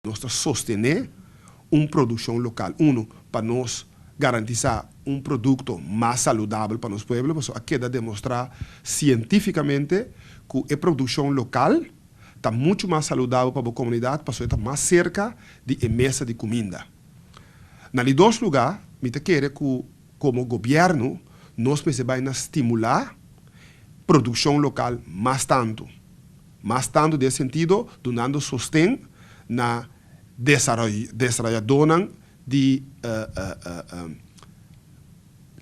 Nos ta sostené un produkshon lokal, unu, pa nos garantisá un produkto mas saludabel pa nos pueblo, pasobra a keda demostrá sientífikamente ku e produkshon lokal ta muchu mas saludabel pa bo komunidat, pasobra e ta mas serka di e mesa di kuminda. Na di dos lugá, mi ta kere ku komo gobièrnu nos mester bai na stimulá produkshon lokal mas tantu. Mas tantu den sentido dunando sosten na desarayadónan di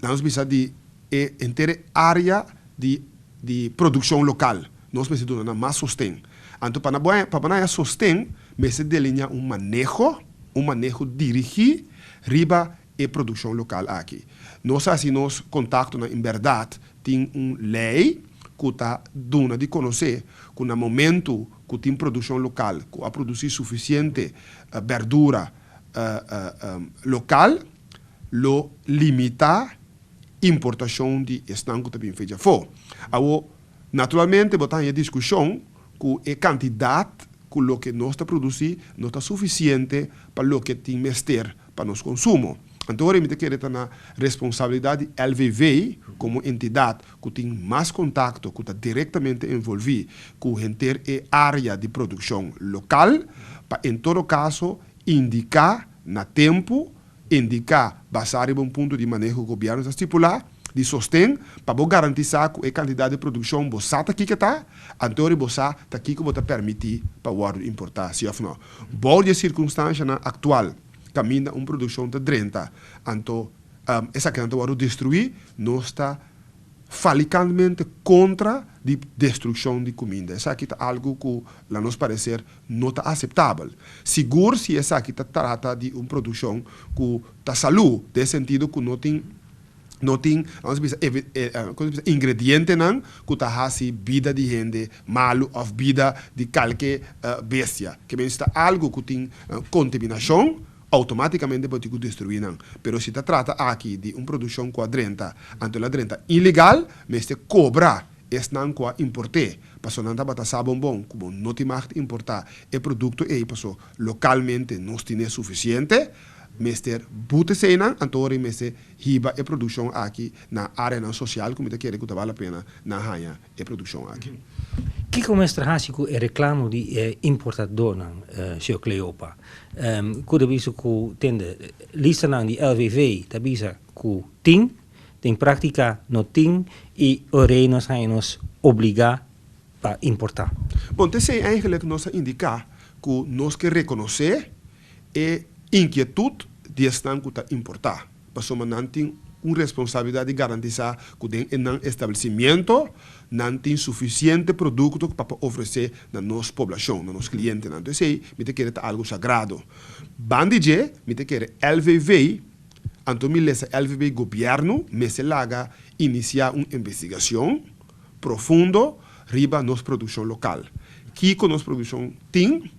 la nos bisa di e entere área di produkshon lokal nos mester duna nan mas sosten. Anto pa nan haya sosten mester deliñá un maneho, un maneho dirigí riba e produccion local aki. Nos a haci nos contactonan en berdad tin un ley cu ta duna di conoce cu na momento cu tin produccion local cu a produci suficiente berdura local lo limita importacion di esnan cu ta bin fecha afo. Awo naturalmente bo ta haña discusion cu e cantidad cu loke nos ta produci no ta suficiente pa loke tin mester pa nos konsumo. Anto ora mi ta kere ta na responsabilidat di LVV komo entidat ku tin mas kontakto ku ta direktamente envolvi ku henter e área di produkshon lokal pa en todo kaso indiká na tempu, indiká basá riba un punto di maneho ku gobièrnu ta stipulá, di sosten pa bo garantisá ku e kantidat di produkshon bo sa ta kiko ta, anto ori bo sa ta kiko bo ta pèrmití pa wòrdu importá, si òf nò. Bou di e sirkunstanshanan aktual, kaminda un produkshon ta drenta anto esakinan ta wòrdu destruí, nos ta falikantmente kontra di destrukshon di kuminda. Esaki ta algu ku na nos pareser no ta aseptabel, sigur si esaki ta trata di un produkshon ku ta salú, den e sentido ku no tin No tin, lamas bisa, ingredientenan ku ta hasi bida di hende malu òf bida di kalke bestia. Ke mester ta algu ku tin kontaminashon, outomátikamente bo tin ku destruí nan. Pero si ta trata aki di un produkshon ku a drenta, anto el a drenta ilegal, mester kobra esnan ku a import'é, pasobra nan tabata sa bon bon ku bo no tin mag importá e produkto ei, pasobra lokalmente nos tin'é sufisiente. mester buta eseinan, anto ri mester hiba e produccion aki na areanan social cu mi ta kere cu ta bal la pena nan haya e produccion aki. Kico mester haci cu e reclamo di e importadornan, Sr. Cleopa? Cu ta bisa cu tende listanan di LVV ta bisa cu tin, den practica no tin y orei nos haya nos obliga pa importa? Bon, te esei eigenlijk nos a indica cu nos ke reconoce E inkietud di esnan ku ta importá, pasobra nan tin un responsabilidat di garantisá ku den e nan establesimiento nan tin sufisiente produkto pa por ofresé na nos poblashon, na nos klientenan. Anto esei mi ta kere ta algu sagrado. Ban di dje mi ta kere LVV, anto mi lesa LVV, gobièrnu mester laga inisiá un investigashon, profundo riba nos produccion local. Kico nos produccion tin,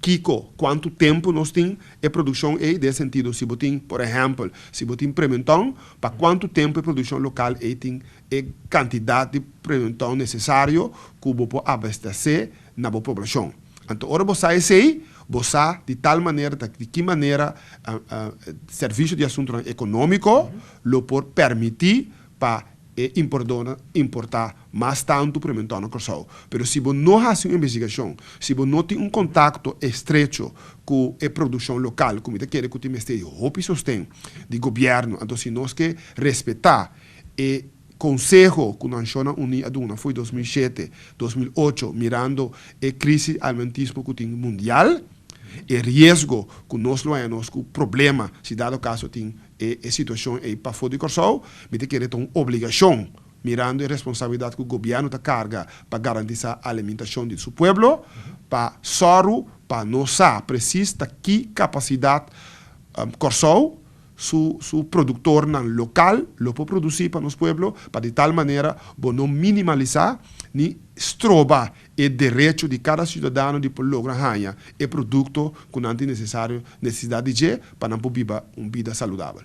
kico, cuanto tempo nos tin e produccion ey, den sentido si bo tin, por ehempel, si bo tin prementon, pa cuanto tempo e produccion local ey tin e cantidad di prementon necesario cu bo por abastece na bo poblacion. Anto ora bo sa esey, bo sa di tal manera ta di ki manera Servicio di Asuntonan Economico lo por permiti pa e importdonan importá mas tantu p'e mentor na Kòrsou. Pero si bo no hasi un investigashon, si bo no tin un kontakto estrecho ku e produkshon lokal, ku mi ta kere ku tin mester e hopi sosten di gobièrnu, anto si nos ke respetá e konseho ku Nashonnan Uní a duna fo'i dos mil shete, dos mil ocho, mirando e krisi almentismo ku tin mundial, e riesgo ku nos lo haña nos ku problema si dado kaso tin E e situashon ei pafó di Kòrsou, mi ta kere ta un obligashon, mirando e responsabilidat ku gobièrnu ta karga pa garantisá alimintashon di su pueblo, pa sòru pa nos sa presis ta ki kapasidat Kòrsou, su su produktornan lokal lo por produsí pa nos pueblo, pa di tal manera bo no minimalisá ni stroba e derecho di cada ciudadano di por logra haña e producto cu nan tin necesario, necesidad di dje pa nan por biba un bida saludabel.